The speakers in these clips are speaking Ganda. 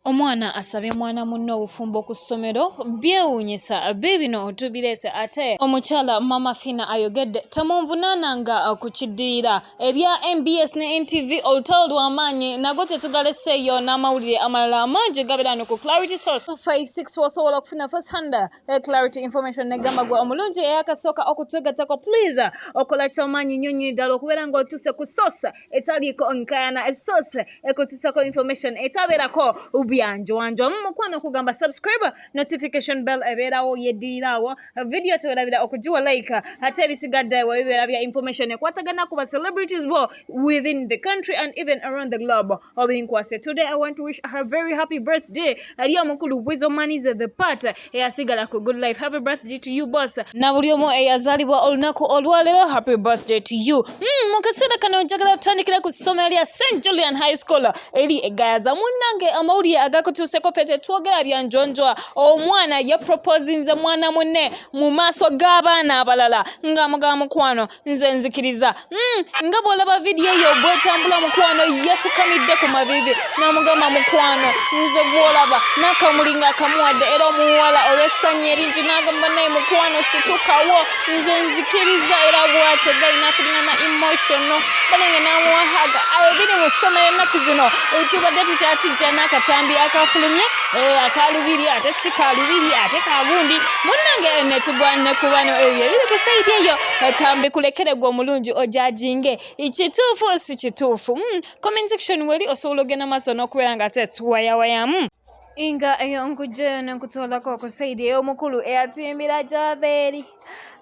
Omwana asabye mwana munne obufumbo ku ssomero, byewuunyisa biibino tubireese ate omukyala Maama Fina ayogedde temunvunaananga ku kiddirira. Ebya nbs ne NTV olutalo lwa maanyi nago tetugaleseeyo n'amawulire amalala amangi gabeera wano ku Clarity Source 256 w'osobola okufuna first hand eh, Clarity information ne gamba gwe omulungi eyakasooka okutwegattako please okola ky'amaanyi nnyo nnyini ddala okubeera ng'otuuse ku source etaliiko nkayana source ekutuusako information etabeerako byanjowanja omu mukwano okugamba subscribe notification bell ebeerawo yeddirirawo video tewerabira okugiwa like ate ebisigadde webibeera bya information ekwatagana ku ba celebrities bo within the country and even around the globe obinkwase today i want to wish her very happy birthday ali omukulu bwizo manize the part eyasigala ku good life happy birthday to you boss na buli omu eyazalibwa olunaku olwaleero happy birthday to you hmm, mu kaseera kano njagala tutandikira ku ssomero lya st julian high school eri egayaza munnange amawulire agakutuuseko fe tetwogera bya njonjwa omwana yeproposinze mwana munne mu maaso g'abaana abalala nga muga mukwano nze nzikiriza hmm, nga bwolaba vidiyo eyo bwetambula mukwano yafukamidde ku mavivi namugamba mukwano nze gwolaba nakamuli nga akamuwadde era omuwala olwessanyu eringi nagamba naye mukwano situkawo nze nzikiriza era bwatyo gali nafulina na emotional banange namuwahaga ayo biri mu ssoma ennaku zino etibadde tukyatijja n'akatambi akafulumye eh, akalubiri ate si kalubiri ate kagundi munange netugwanne kubano ebyo ebiri ku saidi eyo kambi kulekere gwe omulungi ojajinge kituufu si kituufu hmm, comment section weli osobola ogenda maaso n'okubeera nga te tuwayawayamu hmm. inga eyo nkujjayo nenkutwalako okusaidi eyo omukulu eyatuyimbira gyava eri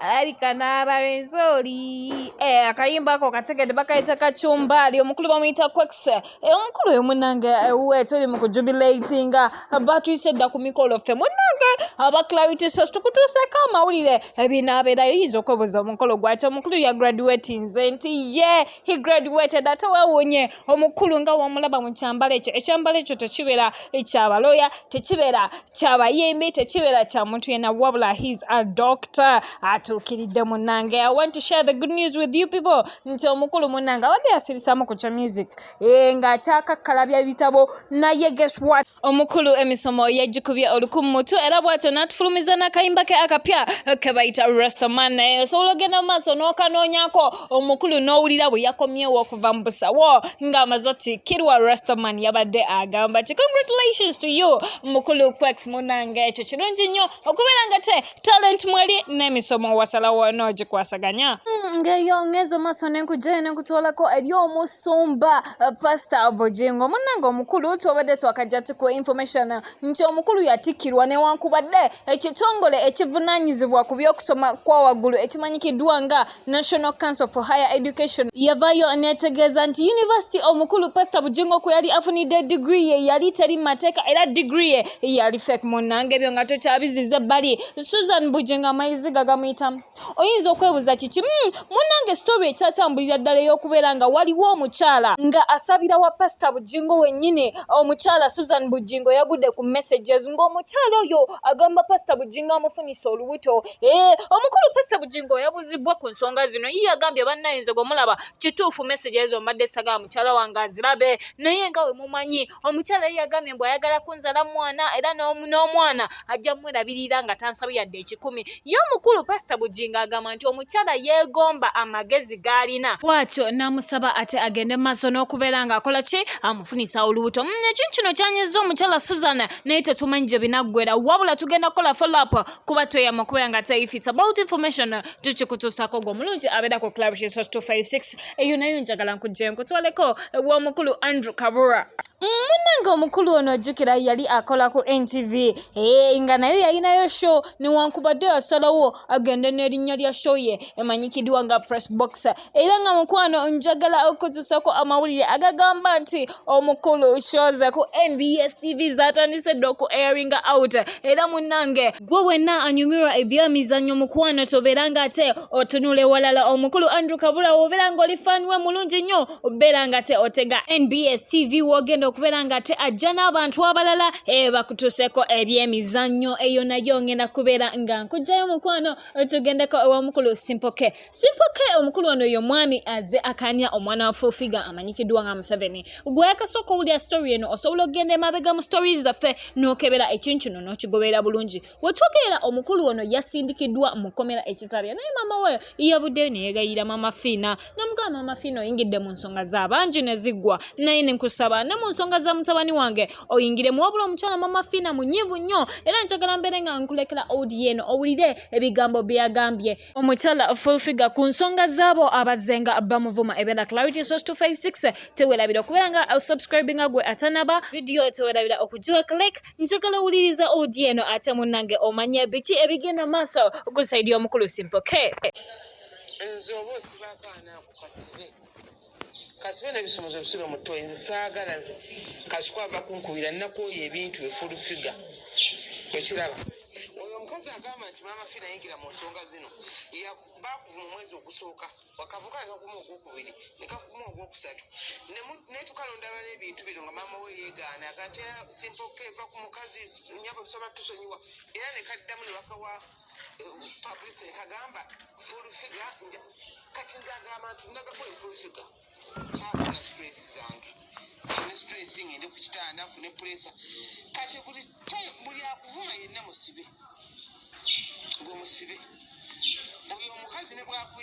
alabika n'abalenzi oli eh, akayimba ako kategedde bakayita kacumbaali omukulu bamuyita quex Eh, omukulu oyo munange ewuwe eh, tuli mu kujubilatinga batuyise dda ku mikolo ffe munange aba clarity sos tukutuuseko amawulire ebinaabeerayo eh, yinza okwebuuza omukolo gwati omukulu ya graduatinze nti ye he graduated ate wewunye omukulu nga wamulaba mu kyambalo ekyo ekyambalo ekyo tekibeera kyabaloya tekibeera kyabayimbi tekibeera kya muntu yena wabula his a doctor atuukiridde munange i want to share the good news with you people nti omukulu munange abadde yasirisamu ku kya music ee eh, ng'akyakakkala bya bitabo naye guess what omukulu emisomo yagikubye oluku mu mutu era bw'atyo n'atufulumiza n'akayimba ke akapya ke bayita rastaman naye osobola ogenda mu maaso n'okanoonyako omukulu n'owulira bwe yakomyewo okuva mu busawo ng'amaze otikkirwa rastaman yabadde agamba ki congratulations to you mukulu quex munange ekyo kirungi nnyo okubeera nga te talenti mweri n'emisomo wasalawo n'ogikwasaganya hmm, ngeyo ngenza maaso nenkugyayo nenkutwalako eri omusumba eh, pasita bugingo munange omukulu twabadde twakajja ti ku information nti omukulu yatikkirwa newankubadde ekitongole ekivunanyizibwa ku byokusoma kwawaggulu ekimanyikiddwa nga National Council for Higher Education yavayo netegeeza nti yunivasiti omukulu Pastor Bujingo kwe yali afunidde digiri ye yali teri mu mateeka era digiri ye yali fake. Munnange ebyo nga tokyabiziza ebbali. Susan Bujingo amayizi gagamuyitamu. Oyinza okwebuuza kiki? Hmm, munnange story ekyatambulira ddala ey'okubeera nga waliwo omukyala nga asabira wa Pastor Bujingo wennyini. Omukyala Susan Bujingo yagudde ku messages ng'omukyala oyo agamba Pastor Bujingo amufunyisa olubuto Eh, omukulu pasita bugingo yabuzibbwa ku nsonga zino ye yagambye bannaye nze gwe mulaba kituufu mesegi ezo mbadde sagala mukyala wange azirabe naye nga we mumanyi omukyala ye yagambye mbu ayagala kunzala mwana era n'omwana ajja mwerabirira nga tansabi yadde ekikumi ye omukulu pasita bugingo agamba nti omukyala yeegomba amagezi g'alina bwatyo n'amusaba ate agende maaso n'okubeera ng'akola ki amufunisa olubuto mm, ekintu kino kyanyiza omukyala suzan naye tetumanyi gye binaggwera wabula tugenda kukola follow up kuba tweyama okubeera nga if it's about information uh, tukikutuusako gwe omulungi abeera ku club jesus 256 eyo nayo njagala nkujje nkutwaleko ew'omukulu andrew kabura munange omukulu ono ojjukira yali akola ku ntv eh, nga nayo yalinayo show newankubadde yasalawo agende n'erinnya lya show ye emanyikiddwa nga press boxer era nga mukwano njagala okutuusako amawulire agagamba nti omukulu shows ku nbs tv zatandise dda oku airing out era munange gwe wenna anyumirwa ebyamizannyo mukwano tobeera nga ate otunula ewalala omukulu andrew kabula wobeera nga oli fan we mulungi nnyo obeera nga te otega nbs tv wogenda okubeera nga te ajja n'abantu abalala eh, bakutuuseko ebyemizannyo eyo nayo ngenda kubeera nga nkugjayo mukwano tugendeko ewomukulu simpoke Simple K omukulu ono yo mwami aze akanya omwana wa full figure amanyikiddwa nga Museveni gweyakasooka owulira story eno osobola okugenda emabega mu stories zaffe n'okebera ekintu kino n'okigoberera bulungi wetwogerera omukulu ono yasindikiddwa mu kkomera ekitalya naye maama we yavuddeyo neyegayira maama fiina namugaba maama fiina oyingidde mu nsonga za bangi ne ziggwa naye nenkusaba ne mu nsonga za mutabani wange oyingire mu wabula omukyala maama fiina munyivu nnyo era njagala mbeere nga nkulekera odieno owulire ebigambo byeyagambye Omukyala full figure ku nsonga zaabo abazzenga bamuvuma ebera clarity source 256 tewerabira okubeera nga uh, subscribing gwe atanaba video tewerabira okugiwa click njagala owuliriza odi eno ate munnange omanya biki ebigenda maaso gusaidi omukulu simpoke nze oba osibako anaakukasibe kasibe nebisomozo bisibe muto nze saagala nze kasuku ava kunkubira nakooya ebintu eful figa ekiraba oyo omukazi agamba nti maama fi nayingira mu nsonga zino bakuvuma omwezi ogusooka wakavuka nekakuma ogwokubiri nekakuma ogwokusatu netukalondaba nebintu bino nga maama we yegaana agate simpoka eva ku mukazi nyabo tusobola tusonyiwa era nekaddamu nebakawa eh, publicity kagamba ful figa kati nze agamba nti nagako enfufiga kyafuna stress zange fune stress ngende ku kitanda nfune puresa kati buli time buli akuvuma yenna musibe gwe musibe buli omukazi ne bwakuya